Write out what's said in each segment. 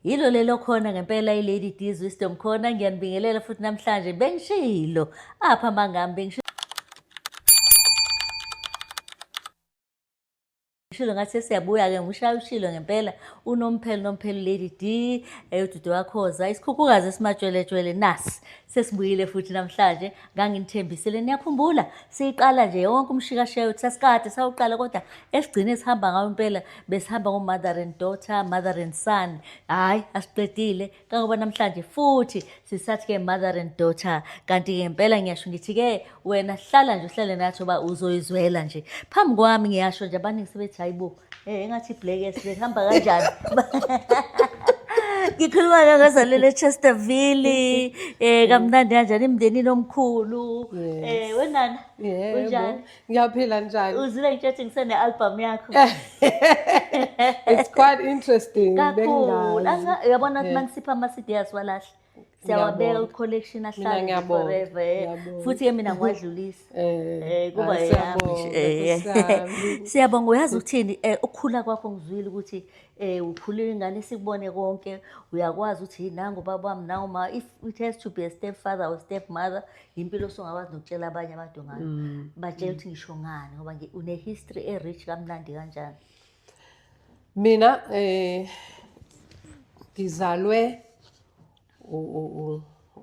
Yilo lelo khona ngempela iLady D's Wisdom khona ngiyanibingelela futhi namhlanje bengishilo apha mangami bengishilo Shilo ngathi siyabuya ke ngishaya ushilo ngempela unomphelo nomphelo Lady D eyodudu wakhoza isikhukhukazi esimatshweletshwele nasi Sesibuyile futhi namhlanje nganginithembisile niyakhumbula siyiqala nje yonke umshikashiya wethu sasikade sawuqala kodwa esigcine sihamba ngawo impela besihamba ngo-mother and daughter mother and son hhayi asiqedile kangoba namhlanje futhi sisathi-ke mother and daughter kanti-ke ngempela ngiyasho ngithi-ke wena hlala nje uhlale nathi uba uzoyizwela nje phambi kwami ngiyasho nje abaningi sebethi hayi bo um engathi iblackes behamba kanjani ngikhuluma ngangazalele echesterville um kamnandi kanjani emndenini omkhulu um wenana unjani ngiyaphila njani uzile ngitshethi ngisene-albhamu yakho it's quite interesting kakhulu yabona ukuthi uma ngisipha ama-cd asiwalahle siyawabeka ku-collection ahlale forever eh. futhi ke mina ngiwadlulisa um eh, eh, kuba siyabonga uyazi ukuthini um ukukhula kwakho ngizwile ukuthi um ukhulile ingane sikubone konke uyakwazi ukuthi yi nangu ubaba wami nawu ma if it has to be a step father or step mother yimpilo osongakwazi nokutshela abanye abantu ngayo mm. batshela ukuthi ngisho ngani ngoba une-history e-rich kamnandi kanjani Mina eh ngizalwe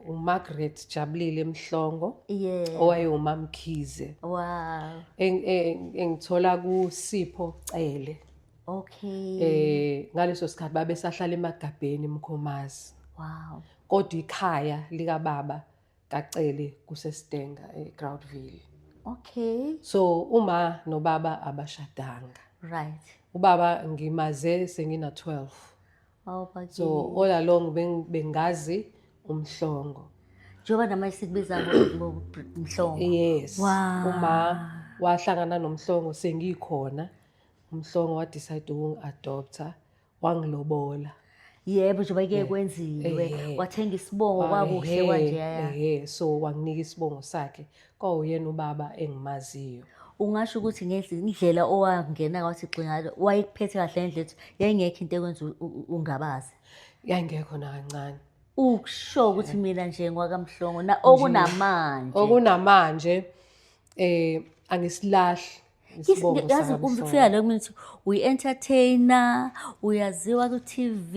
uMargaret Jabulile Mhlongo yeah owayewumamkhize wow engithola kuSipho Cele okay eh ngaleso sikhathi babesahlala emagabheni eMkhomazi wow kodwa ikhaya lika baba kaCele kuseStenga eGroundville. Okay. So uma nobaba abashadanga. Right. Ubaba ngimaze sengina 12. Oh, but so all along bengazi umhlongo. Njengoba namanje sikubiza ngomhlongo. Yes. Wow. Uma wahlangana nomhlongo sengikhona. Umhlongo wa decide ukungi adopter. wangilobola yebo njengoba ke kwenziwe eh, wathenga isibongo kwakuhle kwanjeya eh so wanginika isibongo sakhe kwawuyena ubaba engimaziyo ungasho ukuthi ngendlela owangena kwathi xingalo wayekuphethe kahle ngendlela ethi yayingekho into ekwenza ungabazi yayingekho nakancane ukusho ukuthi eh. mina nje ngwakamhlongo na okunamanje okunamanje eh angisilahli Isibongo yazi sami umfika sona. la kumina ukuthi uyi-entertainer uyaziwa ku-tv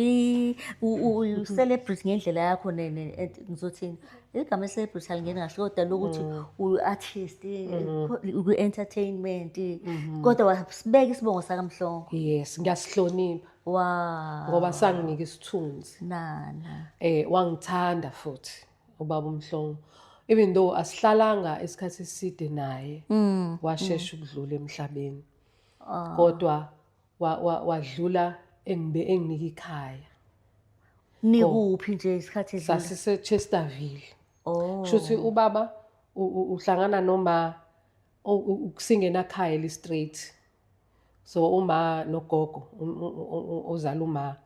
u- u- uyi-celebrity ngendlela yakho ne- ne- et- ngizothini igama i-celebrity alingeni kahle kodwa lokuthi uyi-artist ukwi-entertainment kodwa wasibeka isibongo sakamhlongo yes ngiyasihlonipha wa ngoba sanginika isithunzi nana eh wangithanda futhi ubaba umhlongo even though asihlalanga isikhathi eside naye mm. washesha mm. ukudlula emhlabeni ah. kodwa wadlula engibe enginika ikhaya nikuphi nje isikhathi edlula sasise Chesterville oh shuthi ubaba uhlangana noma ukusingena khaya li straight so uma nogogo ozala uma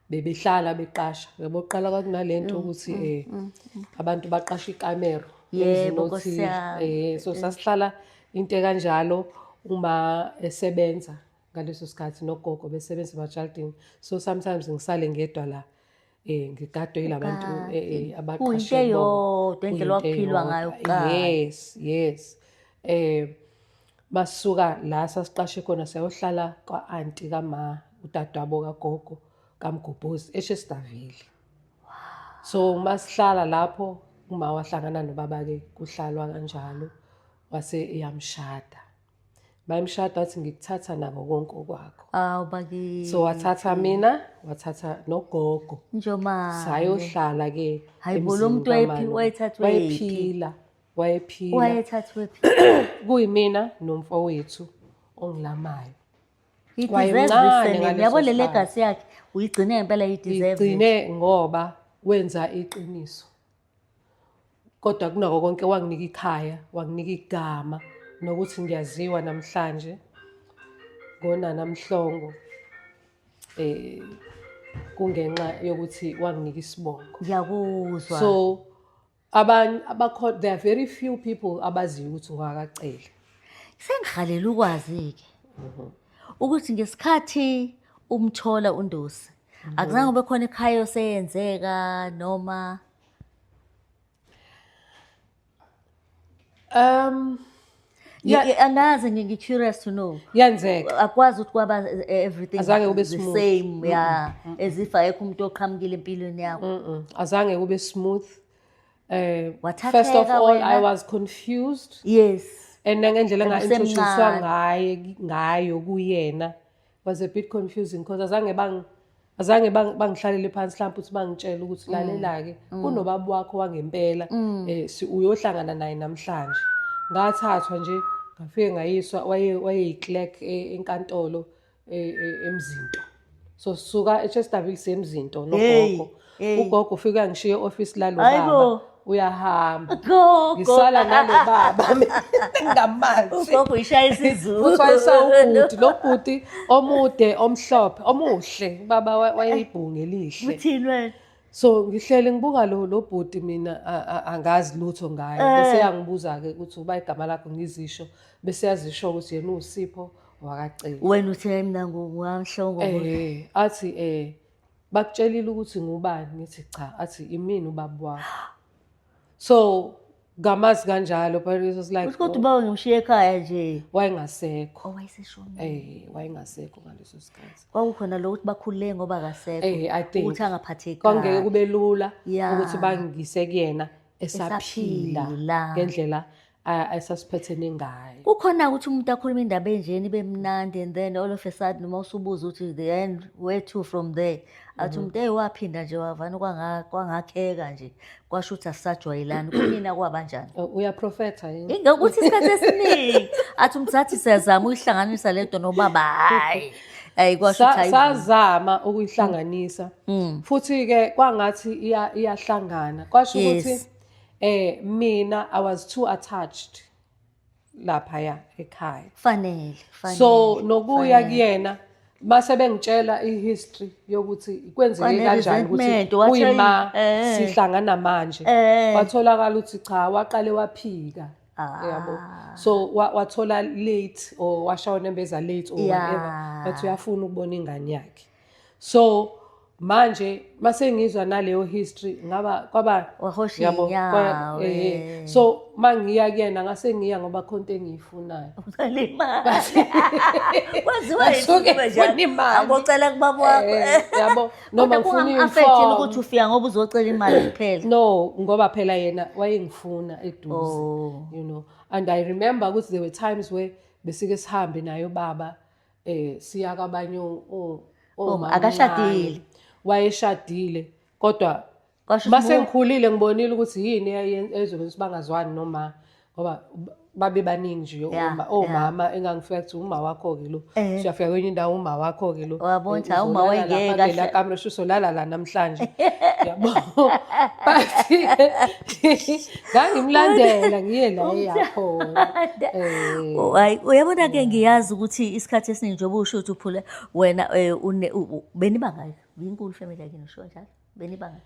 bebehlala beqasha yabo qala kwathi nalento mm, ukuthi mm, eh mm, abantu baqasha ikamera yebo kosiyami eh so sasihlala into kanjalo uma esebenza ngaleso sikhathi nogogo besebenza emajaldini so sometimes ngisale ngedwa la eh ngigadwe yilabantu eh, eh abaqashwe yodwa indlela wakuphilwa ngayo kuqala yes yes eh basuka la sasiqashe khona sayohlala kwa aunti kama udadwabo kagogo kamgubhuzi eshesidavile so uma sihlala lapho uma wahlangana nobaba ke kuhlalwa kanjalo wase eyamshada bayimshada wathi ngikuthatha nako konke okwakho awu bakithi so wathatha mina wathatha nogogo njomane sayohlala ke hayibo lo mntu wayephi wayethathwe wayephila wayephila wayethathwe phi kuyimina nomfowethu ongilamayo yabo le legacy yakhe uyigcine ngempela iyideserve igcine ngoba wenza iqiniso kodwa kunako konke wanginika ikhaya wanginika igama nokuthi ngiyaziwa namhlanje ngonana mhlongo eh kungenxa yokuthi wanginika isibongo ngiyakuzwa so abanye abakho there are very few people abaziyo ukuthi ngwakacele sengihalela ukwazi-ke mhm. ukuthi ngesikhathi umthola undosi Akuzange kube khona ekhaya oseyenzeka noma Um Yeah, yeah, angazi ngi curious to know. Yenzeka. Akwazi ukuthi kwaba eh, everything azange ube the same yeah mm -mm. as if ayekho umuntu oqhamukile empilweni yakho. Mm -mm. Azange ube smooth. Eh uh, first of all wena. I was confused. Yes. And nangendlela nga introducewa ngaye ngayo kuyena. was a bit confusing because azange bang azange bangihlalele phansi mhlawumbe ukuthi bangitshele ukuthi mm. lalela-ke mm. kunobaba wakho wangempela um uyohlangana naye namhlanje ngathathwa nje ngafike ngayiswa wayeyiclerk e, enkantolo e, e, emzinto so suka echestaville semzinto nogogo Hey. ugogo ufike angishiye e-ofisi lalo Hayi baba bo. uyahamba Gogo. ngisala nalo baba ngamazi Ugogo ishaya isizulu. futhi wayesawubhuti lo bhuti omude omhlophe omuhle ubaba wa- wayeyibhungu elihle Uthini wena? so ngihlele ngibuka lo lo bhuti mina a- a- angazi lutho ngaye Eh. bese yangibuza-ke ukuthi uba igama lakho ngizisho bese yazisho ukuthi yena uwusipho wakaceli Wena uthe mina ngu- ngamhlongo. Eh, athi eh bakutshelile ukuthi ngubani ngithi cha athi imini ubaba wakho so ngamazi kanjalo but it was like kodwa oh. ubaba ngimshiye ekhaya nje wayengasekho oh, wayeseshonile eh wayengasekho ngaleso sikhathi kwakukhona lo ukuthi bakhulule ngoba akasekho eh i think ukuthi angaphatheki kwangeke kube lula ukuthi bangise kuyena esaphila ngendlela ayisasiphethe ningayo kukhona ukuthi umuntu akhuluma indaba enjeni ibe mnandi and then all of a sudden noma usubuza ukuthi the end where to from there athi mhm. umuntu eyi waphinda nje wavana kwangakheka nje kwasho ukuthi asisajwayelani kunina kwabanjani oh, uyaprofetha yini ngokuthi isikhathi esiningi athi umuntu sathi siyazama uyihlanganisa le nto nobaba hhayi ayi kwasho ukuthi sazama ukuyihlanganisa mm. futhi-ke kwangathi iyahlangana kwasho ukuthi Eh mina I was too attached lapha ya ekhaya. Fanele, fanele. So nokuya fanele. kuyena mase bengitshela ihistory yokuthi kwenzeke Fanele kanjani ukuthi resentment, wathi uyima ayi, eh. sihlangana manje. Eh. Watholakala ukuthi cha waqale waphika. Ah. Yabo. So wa- wathola late or washona embeza late or Yeah. whatever. But uyafuna ukubona ingane yakhe. so manje masengizwa naleyo history ngaba kwaba wahosha yabo inyawo eh, eh. eh. so mangiya kuyena ngase ngiya ngoba khonto engiyifunayo angocela kubaba wakho eh, yabo noma ngifuna imfo ukuthi ufika ngoba uzocela imali kuphela no ngoba phela yena wayengifuna eduze oh. you know and i remember ukuthi there were times where besike sihambe nayo baba eh siya kwabanye o- o- Oh, omama akashadile. omncane. wayeshadile kodwa Kwasho base ukuthi ngikhulile ngibonile ukuthi yini eyayen- eyenza ukuthi bangazwani noma ngoba b- babe baningi nje Yeah, oma- omama engangifika kuthi uma wakho ke lo Eh. siyafika kwenye indawo uma wakho ke lo Wabona ukuthi, Eh, hawu, uma uzolala wayengeke lapha ahle- kela kamera shuso lala la namhlanje yabo but ngangimlandela ngiye la eyakhona eh. hayi uyabona ke ngiyazi ukuthi isikhathi esiningi njengoba usho ukuthi uphule wena eh, benibangaki yinkulu family yakhe nisho njalo benibangaki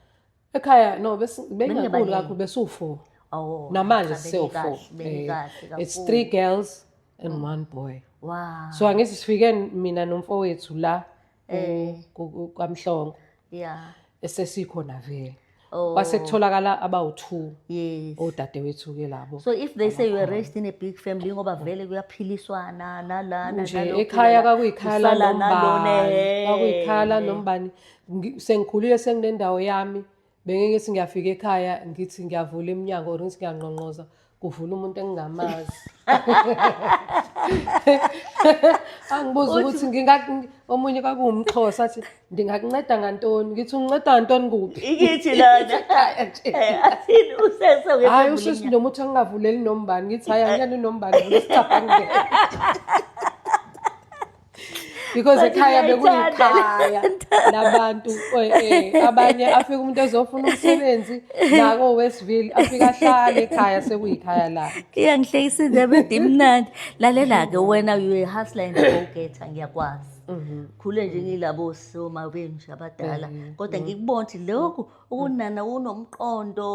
ekhaya no bengakhulu kakho besiwu-four oh, namanje siwu-four eh, it's three girls and mm. one boy wow so angithi sifike mina nomfowethu la Eh. ku- ku- ku- kwamhlongo Yeah. esesikhona vele Oh. kwase kutholakala abawu-two Yes. odadewethu-ke labo So if they say you were raised in a big family ngoba vele kuyaphiliswana nalana nje nalokhu, ekhaya nalana, kwakuyikhaya usala nalona, lanombani eh. kwakuyikhaya lanombani Ngi- sengikhulile senginendawo yami Bengeke ngithi ngiyafika ekhaya ngithi ngiyavula iminyango or ngithi ngiyangqongqoza kuvula umuntu engingamazi. Angibuza ukuthi nginga omunye kwakuwumxhosa athi ndingakunceda ngantoni ngithi unginceda ngantoni kuphi ikithi lona eh, athini usese hayi usisi noma uthi angingavuleli nombani ngithi hayi angiyani nombani vula isicabha ngeke because But ekhaya ngiyayithanda bekuyikhaya le nto. labantu eh, eh, abanye afika umuntu ezofuna umsebenzi nako westville afika ahlale ekhaya sekuyikhaya lakhe iyangihlekisa indaba ede imnandi lalela-ke wena uyehasla and go-getter ngiyakwazi khule nje ngilabo soma benje abadala kodwa ngikubona ukuthi lokhu ukunana unomqondo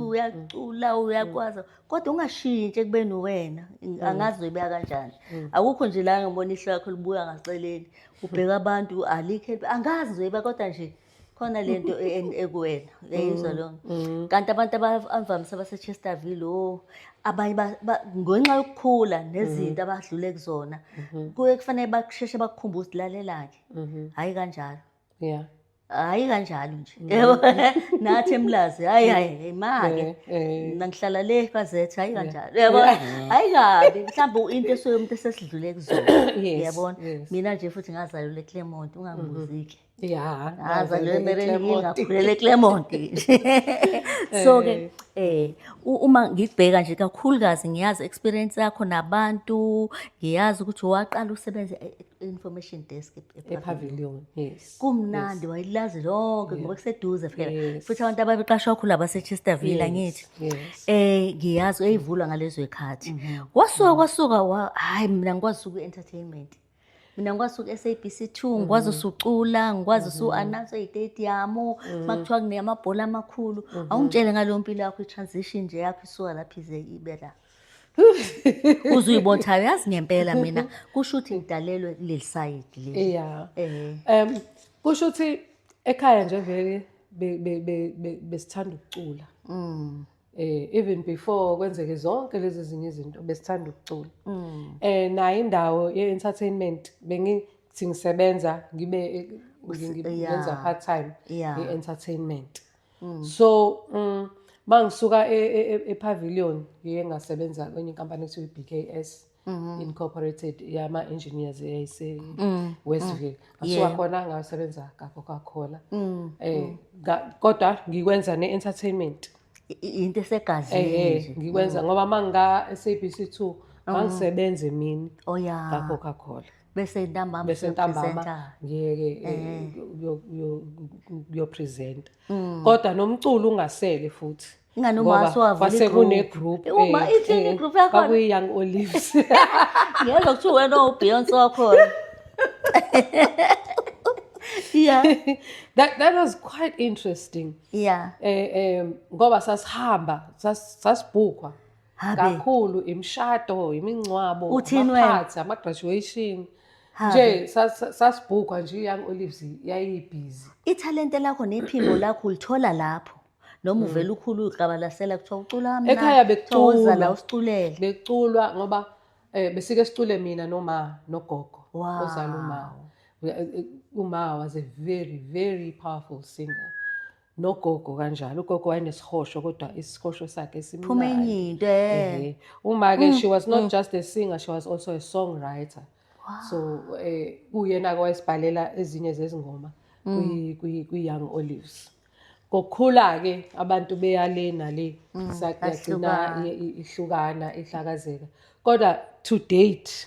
uyacula uyakwazi kodwa ungashintshi ekubeni uwena mm. angazi uzoyibeka kanjani mm. akukho nje la ngibona ihlo yakho libuya ngaceleni ubheka abantu alikhe angazi ngizoyiba kodwa nje khona le nto e, e, ekuwena uyayizwa mm. lona kanti abantu abavamise abasechesterville o oh, abanye ngenxa yokukhula nezinto abadlule kuzona mm-hmm. kuye kufanele basheshe bakukhumbuze lalelake mm-hmm. hhayi kanjalo yeah hayi kanjalo nje mm. yebo nathi emlazi hayi hayi imake eh, eh. nangihlala le bazethe hayi kanjalo yebo hayi kabi mhlawumbe into esuke umuntu esesidlule kuzona yabona mina nje futhi ngazalelwa eClermont ungangibuzike mm-hmm. ya ngazalelwa eMerenini ngakhulela eClermont so ke eh, eh uma ngibheka nje kakhulukazi ngiyazi experience yakho nabantu ngiyazi ukuthi waqala usebenze e-, information desk epavilion yes kumnandi wayilazi lonke ngoba kuseduze phela futhi abantu ababeqashwa khulu abaseChester Villa ngithi eh ngiyazi eyivulwa ngalezo ekhathi mm-hmm. wasuka mm-hmm. kwasuka hayi mina ngikwazi uku entertainment mina ngikwazi uku SABC 2 mm-hmm. ngikwazi usucula ngikwazi usu announce istadium makuthiwa kuneyamabhola amakhulu awungitshele ngalompilo yakho i transition nje yakho isuka lapha ize ibe la uzuyibotha yazi ngempela mina kusho ukuthi ngidalelwe kuleli sayidi leli yeah eh um kusho ukuthi ekhaya nje vele besithanda ukucula mm eh even before kwenzeke zonke lezi zinye izinto besithanda ukucula mm. eh nayo indawo ye-entertainment bengithi ngisebenza ngibe ngenza part time ye-entertainment mm. so um ma ngisuka e, e, e, epavilion ngiye ngasebenza kwenye inkampani ekuthiwa i-b k s mm-hmm. incorporated yama-engineers eyayise-westville mm. mm. ngasuka khona ngasebenza kacoca cola um kodwa ngikwenza ne-entertainment into esegazini ngikwenza ngoba ma ngika-sabc two ngangisebenza emini oh, kacoca cola bese ntambama bese ntambama ngeke eh, kuyopresenta mm. kodwa nomculo ungasele futhi ingane umaso wavula igroup sekune group uma eh, ithini eh, igroup yakho kwakuyi young olives ngeke kuthiwa wena ubeyonce wakhona yeah that that was quite interesting yeah eh eh ngoba sasihamba sasibhukwa Habe. kakhulu imishado imingcwabo Uthini wena? amaphathi ama-graduation Habe. nje sas- sasibhukwa nje i-young olives yayibhizi ithalente lakho nephimbo lakho ulithola lapho noma uvele ukhulu uqabalasela kuthiwa ucula kamnandi, Mm. Ekhaya kuthiwa woza bekuculwa. la usiculele beculwa ngoba um besike sicule mina noma nogogo Wow. ozala uma We- eh, eh, uma was a very very powerful singer nogogo kanjalo ugogo wayenesihosho kodwa isihosho sakhe phuma enye simnandi into eh Ehe. uma-ke she was not just a singer she was also a songwriter so eh, kuyena-ke wayesibhalela ezinye zezingoma kwi- kwi- kwi-young olives ngokukhula-ke abantu beyale nale sa- yagcina bahlukana. i- i- ihlukana ihlakazeka kodwa to date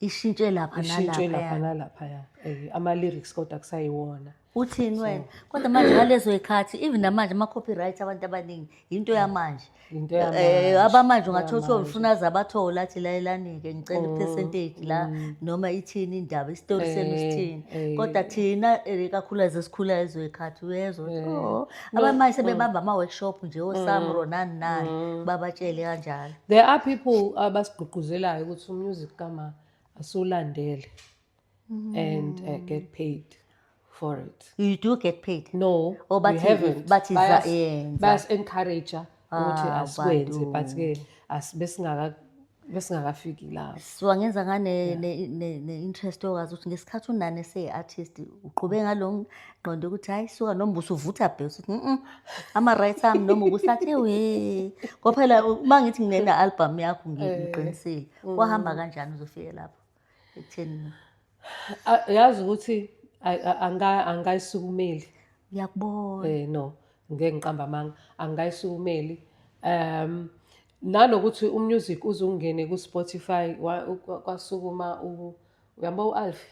ishintshe lapha ishintshe lapha nalaphaya nalaphaya Eh, ama-lyrics kodwa kusayiwona uthini wena kodwa manje ngalezo yikhathi even namanje ama-copyright abantu abaningi yinto yamanje Yinto Eh, yamanje, abamanje ungathi othiwa yamanje. ufuna aze abathole athi layelanike ngicela i-percentage la noma ithini indaba isitori senu Mm, Eh, sithini eh. kodwa thina eh, kakhulukazi esikhula ezwe yikhathi uyezwa ukuthi, Eh. "Oh, abanye manje sebebamba ama-workshop nje osamro nani nani babatshele kanjalo there are people abasigqugquzelayo ukuthi umusic kama asiwulandele and uh, get paid for it you do get paid no or but we haven't but is that yeah bas encourager ukuthi Ah, asikwenze but bantu. ke as- besingaka- besingakafiki lapho so angenza ngane ne- ne- ne-interest yokazi ukuthi ngesikhathi unani ese-artist uqhube ngalo ngqondo ukuthi hhayi suka noma usuvutha bhe usuthi mm ama-rights ami noma ukusathi ewe kwaphela uma ngithi nginena-albhamu yakho ngi- ngiqinisile kwahamba kanjani uzofike lapho ekutheni na A- yazi ukuthi ay- a- anga- angikayisukumeli ngiyakubona eh no ngeke ngiqamba amanga angikayisukumeli um nanokuthi umusic uzungene ku-spotify wa- u- kwa- kwasukuma u- uyabo u-alfi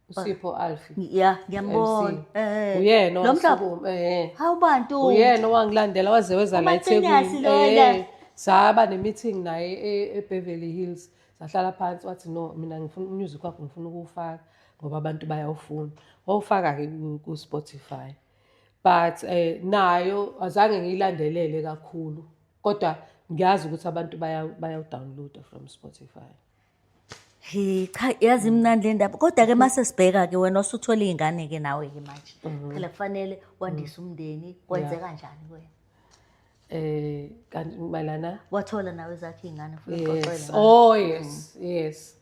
usipho alfi ya ngiyambona MC. eh uyena lo mhlaba owasuku- eh hawu bantu uyena owangilandela waze weza la Umaqinasi ethekwini lona. Eh, saba ne-meeting naye e- ebeverly hills sahlala phansi wathi no mina ngifuna umusic wakho ngifuna ukuwufaka ngoba abantu bayawufuna wawufaka-ke ku- ku-spotify but eh, nayo azange ngiyilandelele kakhulu kodwa ngiyazi ukuthi abantu bayawu- bayawudownloada from spotify Hey cha yazi imnandi le ndaba kodwa ke mase sibheka ke wena usuthola izingane ke nawe ke manje phela kufanele wandise umndeni kwenze kanjani kuwena Eh kanti malana wathola nawe zakhe izingane futhi yes. uxoxela Oh yes, yes.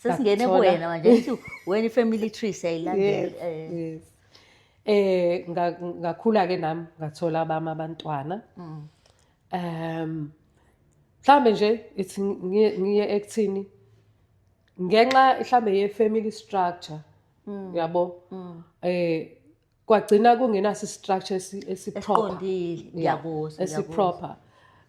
sesingene ngathola. kuwena manje ngithi wena i-family tree Yes, siyayilandela eh yes. Eh nga- ngakhula ke nami ngathola abami abantwana. um mhlawumbe nje ithi ngiye ekuthini ngenxa mhlawumbe ye-family structure mm. yabo mm. eh kwagcina kungenaso i-structure esiproper ngiyakuzwa esiproper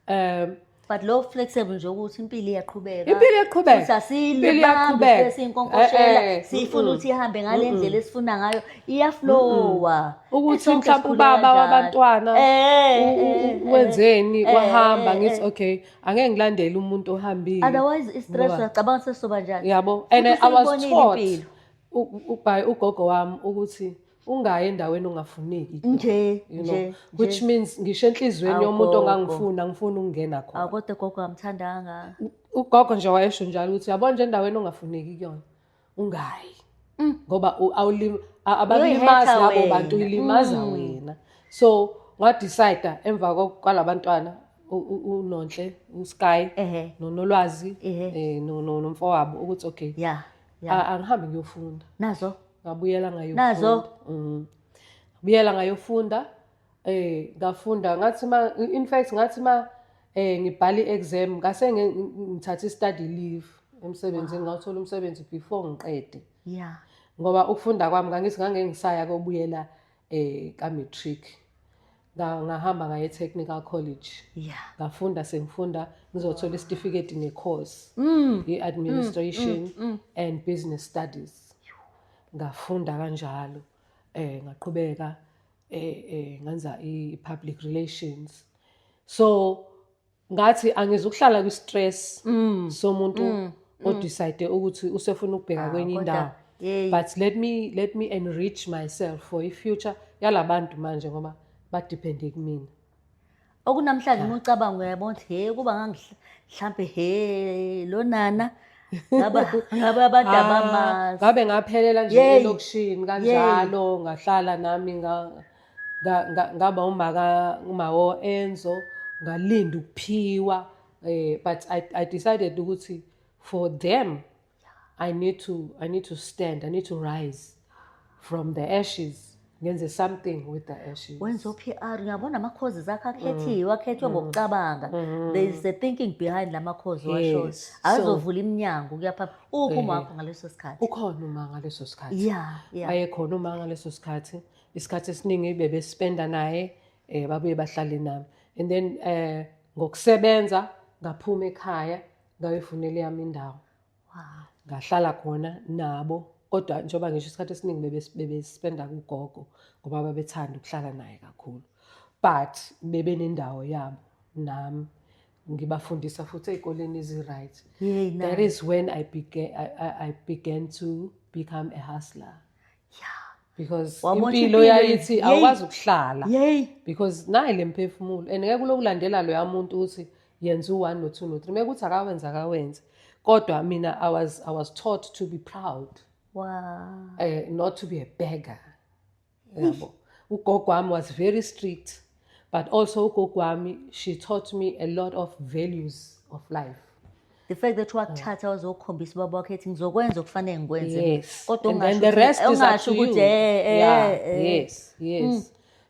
um but lo flexible nje ukuthi impilo iyaqhubeka impilo iyaqhubeka sasile bambe sesinkonkoshela eh, eh, eh. sifuna ukuthi ihambe ngalendlela esifuna ngayo iyaflowa ukuthi mhlawumbe ubaba wabantwana eh, eh, eh, wenzeni wahamba ngithi okay angeke ngilandele umuntu ohambile otherwise istress uyacabanga sesoba njani yabo and i was taught by ugogo wami ukuthi ungayi endaweni ongafuneki nje you know nje, which means ngisho enhlizweni yomuntu ongangifuna ngifuna ukungena khona akodwa gogo amthandanga ugogo nje wayesho njalo ukuthi yabona nje endaweni ongafuneki kuyona ungayi mm. ngoba ababalimazi labo bantu ilimaza mm. wena so ngadecide emva kwalabantwana unonhle usky nonolwazi eh, nomfowabo ukuthi okay angihambe ngiyofunda nazo ngabuyela ngayofunda nazo mm. ngabuyela ngayofunda Eh ngafunda ngathi ma in fact ngathi ma eh ngibhala i-exam ngase ngithatha i-study leave emsebenzini wow. ngawuthola umsebenzi before ngiqede. Yeah. Ngoba ukufunda kwami ngangithi ngangengisaya kobuyela eh ka matric. ngahamba ngaye technical college yeah ngafunda sengifunda ngizothola isitifiketi ne course mm. i administration mm, mm, mm. and business studies ngafunda kanjalo eh ngaqhubeka eh eh ngenza i public relations so ngathi angizukuhlala kwi stress mm. somuntu mm. o mm. decide ukuthi usefuna ukubheka ah, kwenye indawo but let me let me enrich myself for i future yalabantu manje ngoba ba depend kumina okunamhlanje uma ucabanga uyayabona ukuthi he kuba ngangihlampe he lo nana ngaba ngaba abantu Ah, abamazi ngabe ngaphelela nje Yey. elokishini kanjalo ngahlala nami nga- nga- nga- ngaba umaka umawo enzo ngalinda ukuphiwa eh but I, i decided ukuthi for them I need to I need to stand, I need to rise from the ashes. Ngenze something with the ashes. Wenza PR uyabona ama causes akhe akhethiwe, mm. akhethwe mm. ngokucabanga. Mm. There is a thinking behind lama cause washo. Yes. Azovula iminyango kuyapha. Uphi uma wakho ngaleso sikhathi? Ukhona uma ngaleso sikhathi. Yeah, yeah. Ayekhona uma ngaleso sikhathi. Isikhathi esiningi bebe spenda naye eh babuye bahlale nami. And then eh ngokusebenza ngaphuma ekhaya ngayoyifunela eyami indawo ngahlala khona nabo kodwa njengoba ngisho isikhathi esiningi bebespenda kugogo ngoba babethanda ukuhlala naye kakhulu but bebenendawo yabo nami ngibafundisa futhi ey'koleni ezi-right that is when I began, I, I began to become a hustler because impilo yayithi awukwazi ukuhlala because naye le mphefumulo and ngeke ulokulandela loya muntu ukuthi yenza u-one no-two no-three meke ukuthi akawenza akawenze kodwa mina I was, I was taught to be proud wow. uh, not to be a beggar yabo ugogo wami was very strict but also ugogo wami she taught me a lot of values of life the fact that wakuthatha wazokhombisa ubaba wakhe ethi ngizokwenza okufanele ngikwenze yes kodwa And then the rest is up ungasho to you ukuthi eh eh, yeah, eh yes yes mm.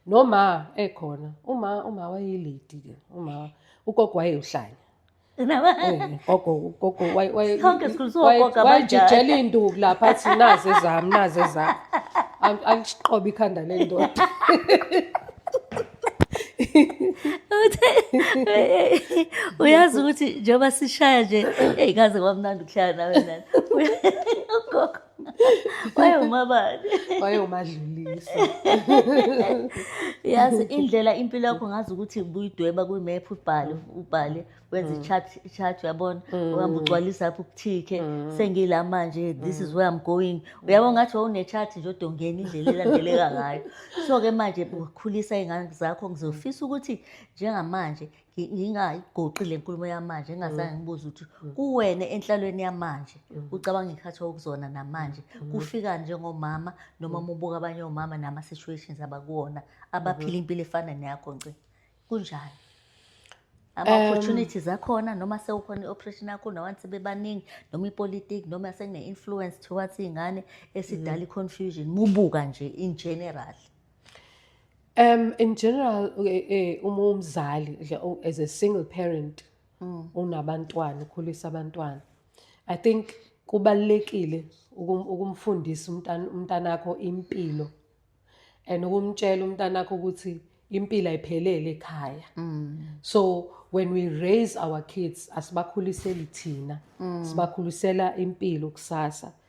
noma ekhona uma uma wayelady ke uma ugogo wayewuhlanya wayejijela iy'nduku lapha athi nazi ezami nazi ezami aliqobe ikhanda le ndoda uyazi ukuthi njengoba sishaya nje eyi kaze kwamnandi ukuhlala nawe nani ugogo wayewumabani wayewomadlulisa yazi indlela impilo yakho ngazi ukuthi buyidweba kwimephu ubhale ubhale wenza mm. i-chart i-chart uyabona mm. uhamba ugcwalisa apho ukuthike mm. sengila manje this is where i'm going uyabo ngathi wawune-chart nje odongeni indlela elandeleka ngayo so-ke manje ukhulisa iy'ngane zakho ngizofisa ukuthi njengamanje ngi- ngingayigoqi le nkulumo yamanje ngingazange ngibuze ukuthi kuwena enhlalweni yamanje ucabanga ikhathi okuzona namanje kufikani njengomama noma mubuka abanye omama nama-situations abakuwona abaphila impilo efana neyakho nci kunjani ama-opportunities akhona noma sewukhona i-operation yakho nawanti sebebaningi noma ipolitiki noma sekune-influence towards iy'ngane esidala i-confusion mubuka nje in general Um in general eh, eh, uma umzali nje, u- as a single parent Mm. unabantwana ukhulisa abantwana I think kubalekile ukum- ukumfundisa umntana umntanakho impilo and ukumtshela umntanakho ukuthi impilo ayiphelele ekhaya Mm. so when we raise our kids asibakhuliseli thina Mm. sibakhulisela impilo kusasa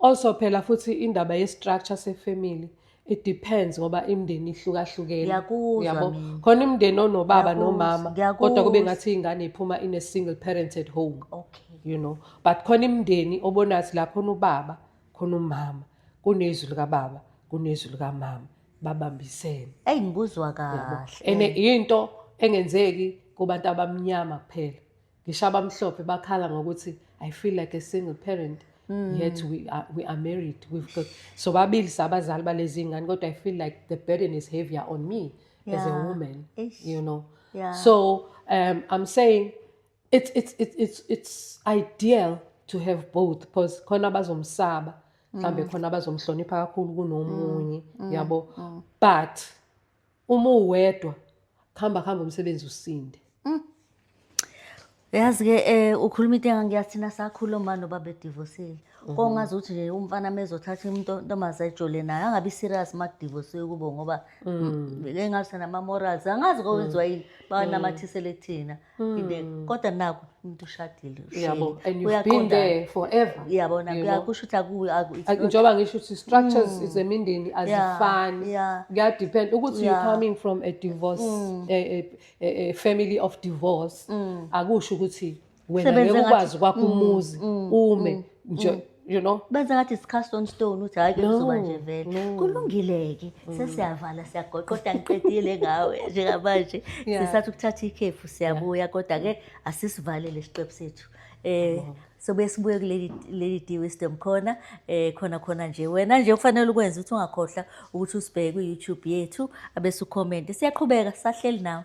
Also phela futhi indaba ye structure se family it depends ngoba imndeni ihlukahlukene Ngiyakuzwa yabo mina. khona imndeni onobaba Ngiyakuzwa, nomama ngiyakuzwa. kodwa kube ngathi ingane iphuma in a single parented home Okay. you know but khona imndeni obonathi la khona ubaba khona umama kunezwi likababa kunezwi likamama babambisene Eyi ngikuzwa yabo kahle. ene into engenzeki kubantu abamnyama kuphela ngisho abamhlophe bakhala ngokuthi i feel like a single parent mm. yet we are, we are married we've got so babili sabazali balezi ngane kodwa i feel like the burden is heavier on me yeah. as a woman Ish. you know yeah. so um, i'm saying it's, it's, it's, it's, it's ideal to have both because khona bazomsaba mhlambe mm. khona bazomhlonipha kakhulu kunomunye mm. mm. yabo but uma uwedwa kuhamba kuhamba umsebenzi usinde yazi ke eh ukhuluma into engangiyazi thina sakhula uma noba bedivosile kongazi ukuthi nje umfana mezothatha umuntu ntomazi ayijole naye angabi serious uma kudivosiwe kubo ngoba engathi nama-morals angazi kowenziwa yini banamathisele kuthina ngibeka mm. kodwa naku umuntu ushadile yabo and you've been there forever yabona kuyakusho ukuthi akuwe aku njengoba ngisho ukuthi structures mm. zemindeni azifani kuya depend ukuthi you coming from a divorce mm. a, a, a, a family of divorce mm. akusho ukuthi wena ngeke ukwazi kwakho mm. umuzi mm. ume mm. nje mm. you know benza ngathi iscast on stone uthi hayi kuzoba nje vele kulungileke mm. sesiyavala siyagoqa kodwa ngiqedile ngawe njengamanje sisathi ukuthatha ikhefu siyabuya kodwa ke asisivalele isiqephu sethu eh sobuye sibuye kuleli leli D Wisdom khona eh khona khona nje wena nje ufanele ukwenza ukuthi ungakhohla ukuthi usibheke ku YouTube yethu abese ucomment siyaqhubeka sahleli nawe